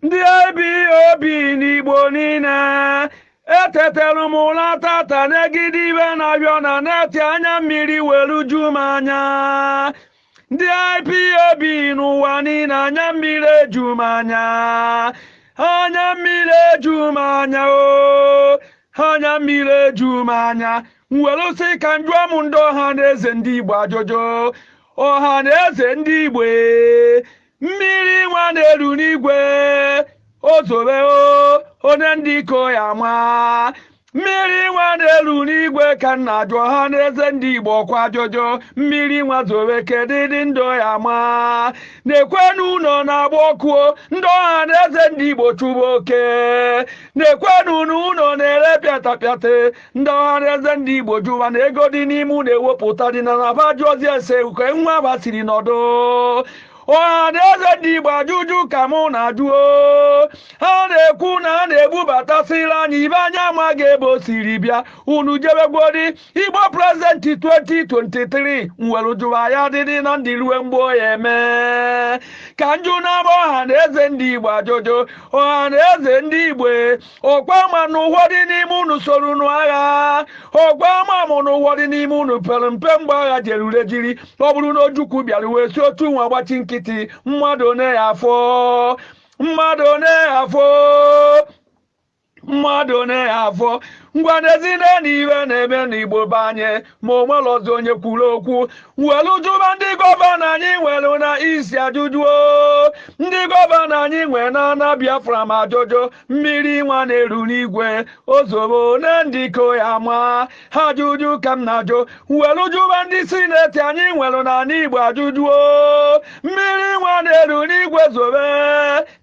ndị IPOB n'Igbo niile etetelu m ụla tata negide ife na-ahịọ na neti anya mmiri were ju m anya ndị IPOB n'ụwa niile anya mmiri eju m anya anya mmiri eju m anya o anya mmiri eju m anya m were sị ka m jụọ m ndị ọha na eze ndị Igbo ajụjụ ọha na eze ndị Igbo mmiri nwa na-eru n'igwe o zobe one ndị ka ọ ya-ama mmiri nwa na-eru n'igwe ka m na-ajụ ọha na eze ndị igbo kwa ajụjụ mmiri nwa zobe kedụdị ndị ọ ya-ama nekwenụ ụnọ na-agba ọkụ ndị ọha na eze ndị igbo chụba oke nekwenụ na ụnọ na-ere pịatapịata ndị ọha na eze ndị igbo jụwa na ego dị n'ime ụlọ ewepụta dị na na ba jụọzi ese uke nwa ba siri nọdụ ọhaneze ndị igbo ajụjụ ka mụ na-ajụ o ha na-ekwu na a na-ebubatasịrị anyị ife anyị amaghị ebe o siri bịa unu jebegwodi igbo prezidenti 2023 m were jụwa a ya-adịdị na ndụ rue mgbe ọ ya-eme ka m jụnaba ọha na eze ndị igbo ajụjụ ọha na eze ndị igbo ọkwa ama m na ụfọdụ n'ime unu soro nụọ agha ọkwa ama mụ na ụfọdụ n'ime unu pere mpe mgbe agha jerure jiri ọ bụrụ na ojukwu bịara wee si otu nwa gbachi nkịtị mmadụ one ya afọ mmadụ one ya afọ mmadụ one ya afọ ngwa nezienụ ife na-eme n'igbo be anyị ma o nwerọzi onye kwuru okwu welu jụba ndị gọvanọ anyị nwere na East ajụjụ o ndị gọvanọ anyị nwere na ana biafra ma ajụjụ mmiri nwa na-eru n'igwe o zobe one ndị ka ọ ya-ama ha ajụjụ ka m na-ajụ welu jụba ndị sineti anyị nwere n'ana igbo ajụjụ o mmiri nwa na-eru n'igwe zobe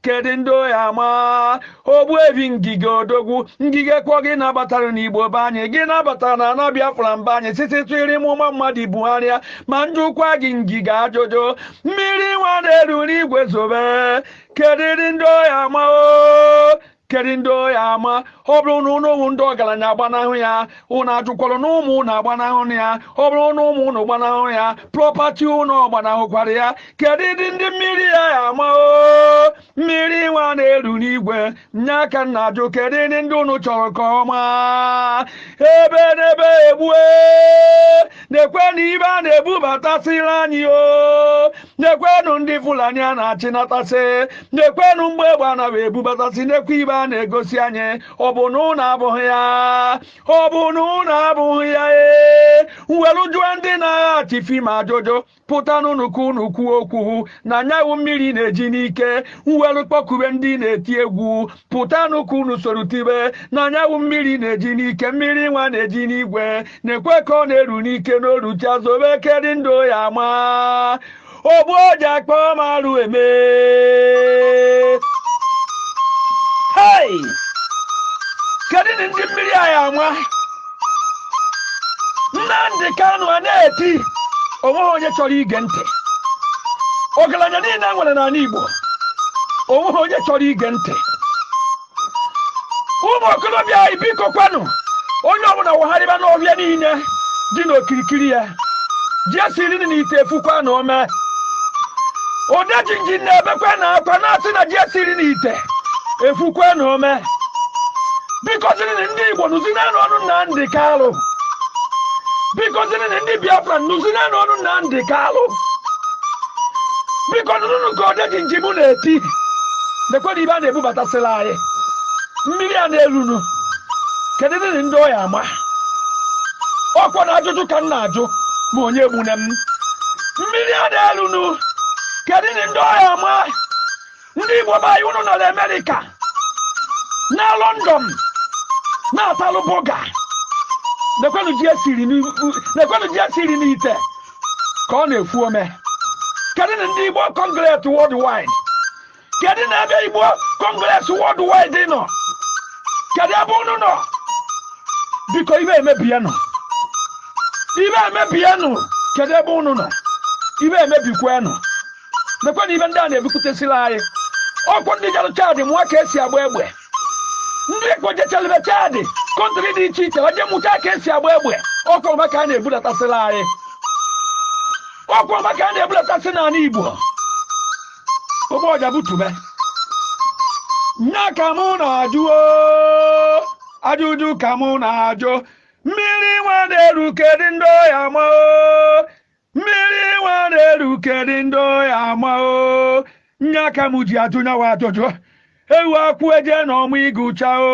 kedu ndị ọ ya-ama ogbuefi ngige odogwu ngige ọkwa gị nabatara n'igbo be anyị gị nabatara na ana biafra be anyị site tụiri mụma mmadụ buhari ma m jụkwa gị ngige ajụjụ mmiri nwa na-eru n'igwe zobe kedụdị ndị ọ ya-ama o kedụ ndị ọ ya-ama ọ bụrụ na ụnụ wụ ndị ọgaranya agbanahụ ya ụnụ ajụkwalụ na ụmụ ụnụ agbanahụ ya ọ bụrụ na ụmụ ụnụ gbanahụ ya prọpati ụnụ ọ gbanahụkwara ya kedụdị ndị mmiri a ya-ama o mmiri nwa na-eru n'igwe nya ka m na-ajụ kedụdị ndị unu chọrọ ka ọ maa ebenebe egbue nekwenụ ife a na-ebubatasịrị anyị o nekwenụ ndị fulani a na-achịnatasị nekwenụ mgbọ egbe a na-ebubatasị nekwa ife a na-egosi anyị ọ bụ na ụnụ afụghị ya ọ bụ na ụnụ afụghị ya ee m welụ jụọ ndị na-agha chief ma ajụjụ pụtanụnụ ka unu kwuo okwu na nyawụ mmiri na-eji n'ike m welu kpọkube ndị na-eti egwu pụtanụ ka unu soro tibe na nyawụ mmiri na-eji n'ike mmiri nwa na-eji n'igwe nekwe ka ọ na-eru n'ike na o ruchaa zobe kedị ndị ọ ya-ama ogbu ọja kpọọ m arụ eme hey! kedu ndị mmiri a ya-ama Nnamdi Kanu a na-eti onweghị onye chọrọ ige ntị ọgaranya niile nwere n'ala Igbo onweghị onye chọrọ ige ntị ụmụ okorobịa anyị biko kwanụ onye ọbụla wagharịba n'ọhịa niile dị n'okirikiri ya ji e siri n'ite efukwanụ ome odejinji na-ebekwanụ akwa na-asị na ji e siri n'ite efukwanụ ome bikozirinụ ndị Igbo nụzinanụ onu Nnamdi Kanu bikozirinụ ndị Biafra nụzinanụ onu Nnamdi Kanu biko nụnụnụ ka odejinji mụ na-eti nekwanụ ife a na-ebubatasịlị anyị mmiri a na-elunụ kedunụ ndị ọ ya-ama ọkwa na ajụjụ ka m na-ajụ ma onye egbune m mmiri a na-elunụ kedunụ ndị ọ ya-ama ndị Igbo be anyị unu nọ n'Amerika na London na-atalụ burger nekwenụ ji e siri n'ite ka ọ na-efu ome kedunụ ndị Igbo Congress worldwide kedunụ ebe Igbo Congress worldwide nọ kedu ebe unu nọ biko ife emebienụ ife emebienụ kedu ebe unu nọ ife emebikwenụ nekwenụ ife ndị a na-ebupụtasịrị anyị ọkwụ ndị jere Chad mụọ ka esi agba egbe ndị e kpojechalị be Chad country dị iche iche wa je mụta ka esi agba egbe ọkwụ wa ka a na-ebulatasịrị anyị ọkwụ wa ka a na-ebulatasị n'ala igbo ụgbọ ọja butube nya ka mụ na-ajụ oo, ajụjụ ka mụ na-ajụ mmiri nwa na-eru kedị ndị ọ ya-ama oo, mmiri nwa na-eru kedụ ndị ọ ya-ama o nya ka m ji ajụ nyawụ ajụjụ ewu akwụ eje na ọmụ ịgụcha o